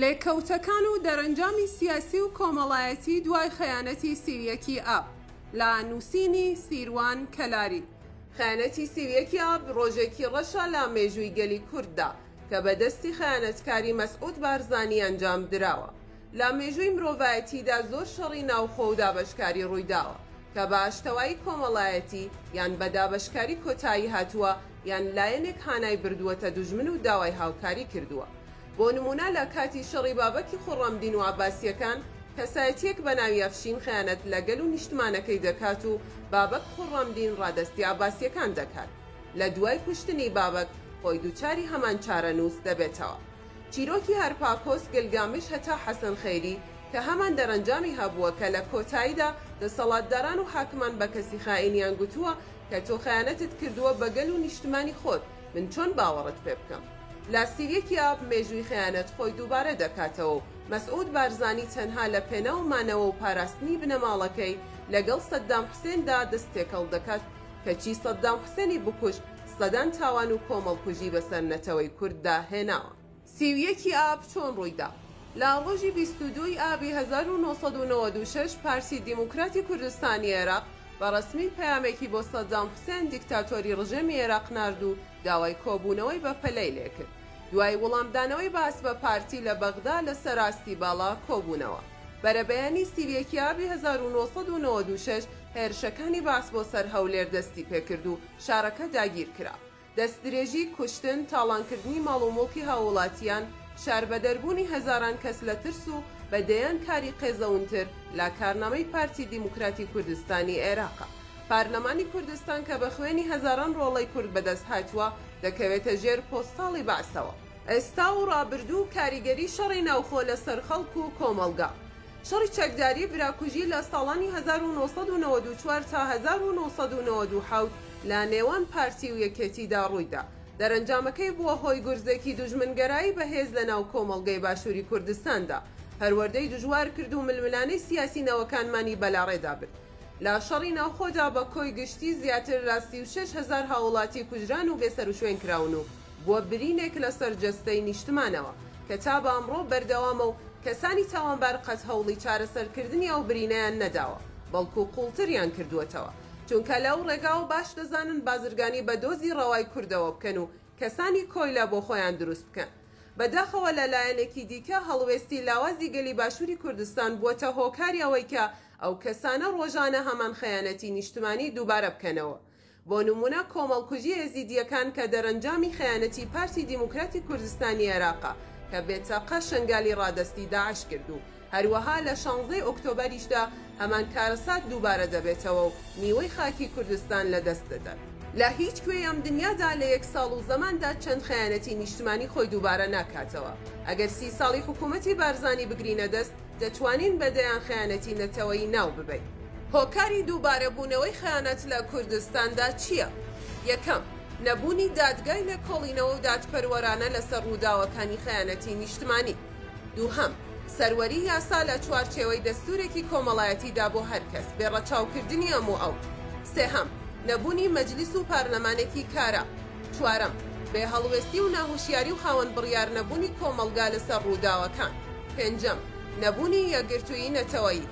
لێکەوتەکان و دەرەنجامی سیاسی و کۆمەڵایەتی دوای خەیانەتی سی و یەکی ئاب لە نووسینی سیروان کەلاری. خەیانەتی سی و یەکی ئاب ڕۆژێکی ڕەشە لە مێژووی گەلی کورددا کە بە دەستی خەیانەتکاری مەسعود بارزانی ئەنجام دراوە. لە مێژووی مرۆڤایەتیدا زۆر شەڕی ناوخۆ و دابەشکاری ڕوویداوە کە بە ئاشتەوایی کۆمەڵایەتی یان بە دابەشکاری کۆتایی هاتووە یان لایەنێک هانای بردووەتە دوژمن و داوای هاوکاری کردووە بۆ نموونە لە کاتی شەڕی بابەکی خوڕەمدین و عەباسیەکان کەسایەتیەک بە ناوی ئەفشین خەیانەت لە گەل و نیشتمانەکەی دەکات و بابەک خوڕەمدین ڕادەستی عەباسیەکان دەکات لە دوای کوشتنی بابەک خۆی دووچاری هەمان چارەنووس دەبێتەوە. چیرۆکی هەرپاکۆس گلگامش هەتا حەسەن خەیری کە هەمان دەرەنجامی هەبووە کە لە کۆتاییدا دەسەڵاتداران و حاکمان بە کەسی خائینیان گوتووە کە تۆ خەیانەتت کردووە بە گەل و نیشتمانی خۆت من چۆن باوەڕت پێ بکەم؟ لە سی و یەک ی ئاب مێژووی خەیانەت خۆی دووبارە دەکاتەوە و مەسعود بارزانی تەنها لە پێناو مانەوە و پاراستنی بنەماڵەکەی لەگەڵ سەدام حوسێندا دەست تێکەڵ دەکات کەچی سەدام حوسێنی بکوژ سەدان تاوان و کۆمەڵکوژی بەسەر نەتەوەی کورددا هێناوە. سی و یەک ی ئاب چۆن ڕوویدا؟ لە ڕۆژی بیست و دوو ی ئابی هەزار و نۆ سەد و نەوەد و شەش پارتی دیموکراتی کوردستانی عێراق بە ڕەسمی پەیامێکی بۆ سەدام حوسێن دیکتاتۆری ڕژێمی عێراق نارد و داوای کۆبوونەوەی بەپەلەی لێکرد دوای وڵامدانەوەی بەعس بە پارتی لە بەغدا لەسەر ئاستی باڵا کۆبوونەوە. بەرەبەیانی سی و یەک ی ئابی هەزار و نۆ سەد و نەوەد و شەش هێرشەکانی بەعس بۆ سەر هەولێر دەستی پێکرد و شارەکە داگیر کرا. دەستدرێژی، کوشتن، تاڵانکردنی ماڵ و موڵکی هاووڵاتییان، شاربەدەربوونی هەزاران کەس لە ترس و بە دەیان کاری قێزەونتر لە کارنامەی پارتی دیموکراتی کوردستانی عێراقە. پارلەمانی کوردستان کە بە خوێنی هەزاران ڕۆڵەی کورد بەدەست هاتووە، دەکەوێتە ژێر پۆستاڵی بەعسەوە. ئێستا و ڕابردوو و کاریگەری شەڕی ناوخۆ لەسەر خەڵک و کۆمەڵگا. شەڕی چەکداری براکوژی لە ساڵانی هەزار و نۆ سەد و نەوەد و چوار تا هەزار و نۆ سەد و نەوەد و حەوت لە نێوان پارتی و یەکێتیدا ڕوویدا، دەرەنجامەکەی بووە هۆی گورزێکی دوژمنگەرایی بەهێز لەناو کۆمەڵگەی باشووری کوردستاندا، پەروەردەی دژوار کرد و ململانێی سیاسی نەوەکانمانی بەلاڕێدا برد. لە شەڕی ناوخۆدا بە کۆی گشتی زیاتر لە سی و شەش هەزار هاووڵاتی کوژران و بێسەروشوێن کراون و، بووە برینێک لەسەر جەستەی نیشتمانەوە، کە تا بە ئەمڕۆ بەردەوامە و کەسانی تاوانبار قەت هەوڵی چارەسەرکردنی ئەو برینەیان نەداوە، بەڵکو قوڵتریان کردووەتەوە، چونکە لە ئەو ڕێگاوە باش دەزانن بازرگانی بە دۆزی ڕەوای کوردەوە بکەن و کەسانی کۆیلە بۆ خۆیان دروست بکەن. بەداخەوە لە لایەنێکی دیکە هەڵوێستی لاوازی گەلی باشووری کوردستان بووەتە هۆکاری ئەوەی کە ئەو کەسانە ڕۆژانە هەمان خەیانەتی نیشتمانی دووبارە بکەنەوە. بۆ نموونە کۆمەڵکوژی ئێزیدییەکان کە دەرەنجامی خەیانەتی پارتی دیموکراتی کوردستانی عێراقە کە بێ چەقە شەنگالی ڕادەستی داعش کرد و هەروەها لە شانزدە ی ئۆکتۆبەریشدا هەمان کارەسات دووبارە دەبێتەوە و نیوەی خاکی کوردستان لە دەست دەدات. لە هیچ کوێی ئەم دنیادا لە یەک ساڵ و زەماندا چەند خەیانەتی نیشتمانی خۆی دووبارە ناکاتەوە. ئەگەر سی ساڵی حکوومەتی بارزانی بگرینە دەست، دەتوانین بە دەیان خەیانەتی نەتەوەیی ناو ببەین. هۆکاری دووبارە بوونەوەی خەیانەت لە کوردستاندا چییە؟ یەکەم، نەبوونی دادگای لێکۆڵینەوە و دادپەروەرانە لەسەر ڕووداوەکانی خەیانەتی نیشتمانی. دووهەم، سەروەری یاسا لە چوارچێوەی دەستوورێکی کۆمەڵایەتیدا بۆ هەر کەس، بێ ڕەچاوکردنی ئەم و ئەو. سێهەم، نەبوونی مەجلیس و پارلەمانێکی کارا. چوارەم، بێ هەڵوێستی و ناهوشیاری و خاوەن بڕیار نەبوونی کۆمەڵگا لەسەر ڕووداوەکان. پێنجەم، نەبوونی یەکگرتوویی نەتەوەیی.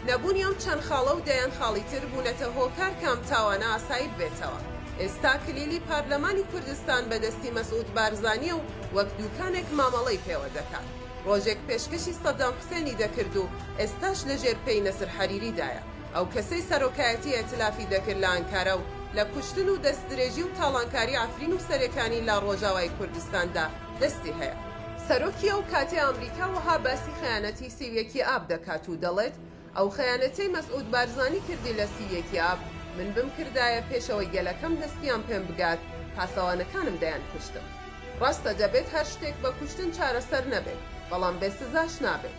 نەبوونی ئەم چەند خاڵە و دەیان خاڵی تر بوونەتە هۆکار کە ئەم تاوانە ئاسایی ببێتەوە. ئێستا کلیلی پارلەمانی کوردستان بە دەستی مەسعود بارزانیە و وەک دووکانێک مامەڵەی پێوە دەکات. ڕۆژێک پێشکەشی سەدام حوسێنی دەکرد و ئێستاش لەژێر پێی نەسر حەریریدایە. ئەو کەسەی سەرۆکایەتی ئیتلافی دەکرد لە ئانکارا و لە کوشتن و دەستدرێژی و تاڵانکاری عەفرین و سەرێکانی لە ڕۆژاوای کوردستاندا دەستی هەیە. سەرۆکی ئەو کاتی ئامریکا وەها باسی خەیانەتی سی و یەکی ئاب دەکات و دەڵێت، ئەو خەیانەتەی مەسعود بارزانی کردی لە سی و یەکی ئاب، من بمکردایە پێش ئەوەی گەلەکەم دەستیان پێم بگات، پاسەوانەکانم دەیانکوشتم. ڕاستە دەبێت هەر شتێک بە کوشتن چارەسەر نەبێت، بەڵام بێ سزاش نابێت.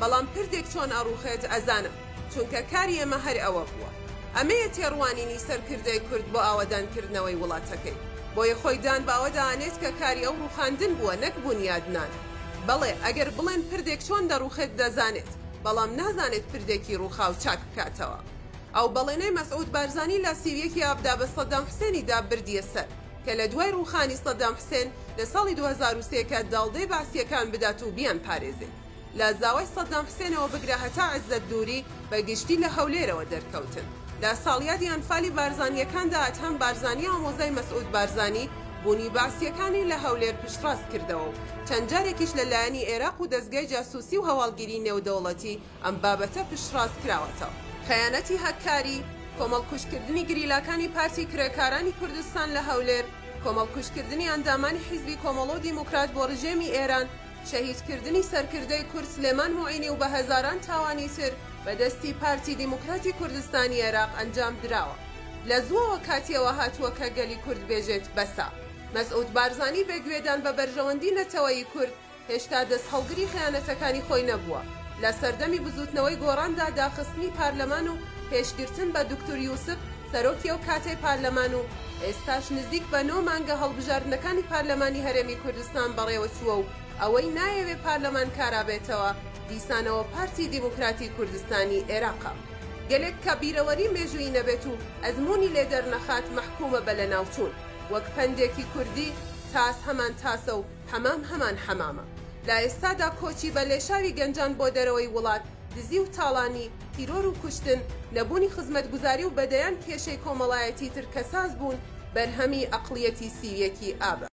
بەڵام پردێک چۆن ئەڕوخێت ئەزانم چونکە کاری ئێمە هەر ئەوە بووە ئەمەیە تێڕوانینی سەرکردەی کورد بۆ ئاوەدان کردنەوەی وڵاتەکەی بۆیە خۆی دان بەوەدا ئەنێت کە کاری ئەو ڕوخاندن بووە نەک بونیادنان بەڵێ ئەگەر بڵێن پردێک چۆن دەڕوخێت دەزانێت بەڵام نازانێت پردێکی ڕوخاو چاک بکاتەوە ئەو بەڵێنەی مەسعود بارزانی لە سی و یەک ی ئاب دابە سەدام حسێنی دا بردیە سەر کە لە دوای ڕوخانی سەدام حسێن لە ساڵی دوو هەزار و سێ کە داڵدەی بەعسیەکان بدات و بیان پارێزێت. لە زاوای سەدام حسێنەوە بگرە هەتا عزەت دوری بە گشتی لە هەولێرەوە دەرکەوتن لە ساڵیادی ئەنفالی بارزانیەکاندا ئەدهەم بارزانی ئامۆزای مەسعود بارزانی بونی بەعسیەکانی لە هەولێر پشتڕاست کردەوە و چەند جارێکیش لە لایەنی ئێراق و دەزگای جاسوسی و هەواڵگیری نێودەوڵەتی ئەم بابەتە پشتڕاست کراوەتەوە. خەیانەتی هەککاری، کۆمەڵکوژ کردنی گریلاکانی پارتی کرێکارانی کوردستان لە هەولێر، کۆمەڵکوژ کردنی ئەندامانی حیزبی کۆمەڵۆ دیموکرات بۆ رژێمی ئێران، شەهیدکردنی سەرکردەی کورد سلێمان موعینی و بە هەزاران تاوانی تر بە دەستی پارتی دیموکراتی کوردستانی عێراق ئەنجام دراوە. لە زووەوە کاتی ئەوە هاتووە کە گەلی کورد بێژێت بەسە. مەسعود بارزانی بێ گوێدان بە بەرژەوەندی نەتەوەیی کورد، هێشتا دەستهەڵگری خەیانەتەکانی خۆی نەبووە. لە سەردەمی بزووتنەوەی گۆڕاندا داخستنی پارلەمان و پێشگرتن بە دوکتور یوسف سەرۆکی ئەو کاتەی پارلەمان و ئێستاش نزیک بە نۆ مانگە هەڵبژاردنەکانی پارلەمانی هەرێمی کوردستان بەڕێوەچووە و ئەوەی نایەوێ پارلەمان کارابێتەوە دیسانەوە پارتی دیموکراتی کوردستانی ئێراقە. گەلێک کە بیرەوەری مێژوویی نەبێت و ئەزموونی لێ دەرنەخات مەحکومە بە لەناوچوون. وەک پەندێکی کوردی، تاس هەمان تاسە و، حەمام هەمان حەمامە. لە ئێستادا کۆچی بە لێشاوی گەنجان بۆ دەرەوەی وڵات، دزی و تاڵانی، تیرۆر و کوشتن، نەبوونی خزمەتگوزاری و بە دەیان کێشەی کۆمەڵایەتی تر کە ساز بوون، بەرهەمی ئەقڵیەتی سی و یەکی ئابە.